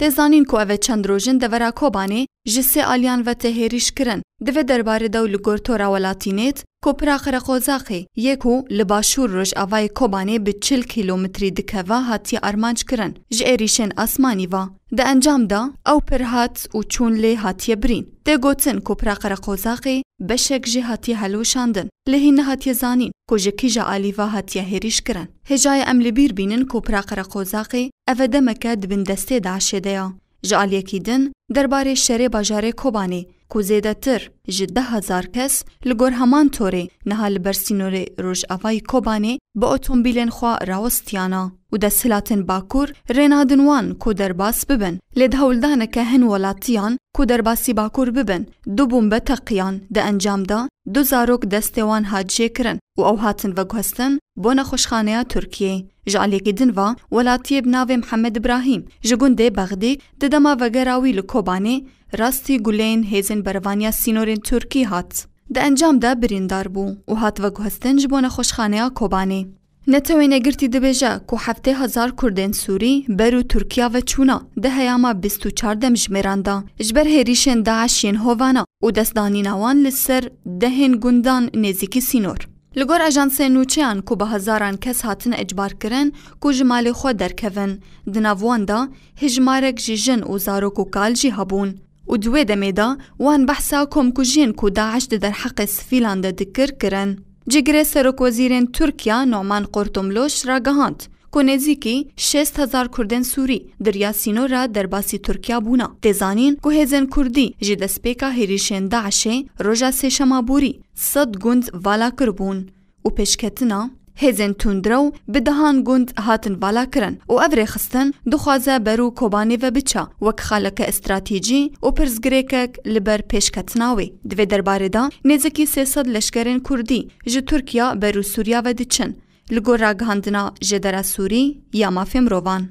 Tê zanîn ku ev e çend rojin devera Kobanê ji sê aliyan ve tê hêrîş kirin. Divê derbarê dew li gor tora welatînêt ku pira Qereqozaxê yê ku li başûr rojavayê Kobanê bi çil kîlomitrî dikeva hatiye armanc kirin ji êrîşên asmanî ve. Di encam de ew pir hat û çûn lê hatiye birîn. Tê gotin ku pira Qereqozaxê beşek jê hatiye heloşandin lê hîn nehatiye zanîn ku ji kîja alî ve hatiye hêrîş kirin. Hêjayê em li bîr bînin ku Pira Qereqozaqê ev e demeke di bin destê DAIŞ'ê de ya. Ji aliyekî din derbarê şerê bajarê Kobanê ku zêdetir ji deh hezar kes li gor heman torê niha li ber sînorê rojavayî Kobanê bi otombîlên xwe rawestiyana û desthilatên Bakur rê nadin wan ku derbas bibin lê di hewldaneke hin welatiyan ku derbasî Bakur bibin du bombe teqiyan di encam de du zarok destê wan hat jêkirin. û ew hatin veguhestin bo nexweşxaneya Tirkiyeyê. Ji aliyekî din ve welatiyê bi navê Mihemed Ibrahîm ji gundê Bexdîk di dema vegera wî li Kobanê rastî guleyên hêzên berevaniya sînorên Tirkî hat. Di encam de birîndar bû û hat veguhestin ji bo nexweşxaneya Kobanê. Netewên Yekgirtî dibêje ku heftê hezar Kurdên Sûrî ber û Tirkiya ve çûna di heyama bîst û çar demjimêran de ji ber hêrîşên DAIŞ yên hovana û destdanîna wan li ser Dehên gundan nêzîkî sînor. Li gor ajansên nûçeyan ku bi hezaran kes hatine icbarkirin ku ji malê xwe derkevin, di nav wan de hejmarek ji jin û zarok û kal jî hebûn û di wê demê de wan behsa komkujiyên ku DAIŞ di derheqê sivîlan de dikir kirin. Cîgirê Serokwezîrên Tirkiya Numan Qurtumluş ragihand Ku nêzîkî şêst hezar Kurdên Sûrî di riya sîno re derbasî Tirkiya bûna. Tê zanîn ku hêzên Kurdî ji destpêka hêrîşên DAIŞ'ê roja sêşema borî sed gund vala kiribûn û pêşketina hêzên tundrew bi dehan gund hatin vala kirin û ev rêxistin dixwaze ber û Kobanê ve biçe wek xaleke stratejî û pirsgirêkek li ber pêşketina wê. Di vê derbarê de nêzîkî sê sed leşkerên Kurdî ji Tirkiya ber û Sûriya ve diçin. Li gor ragihandina Jedera Sûrî ya Mafê Mirovan,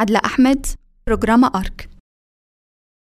Edla Ehmed, Programa ark.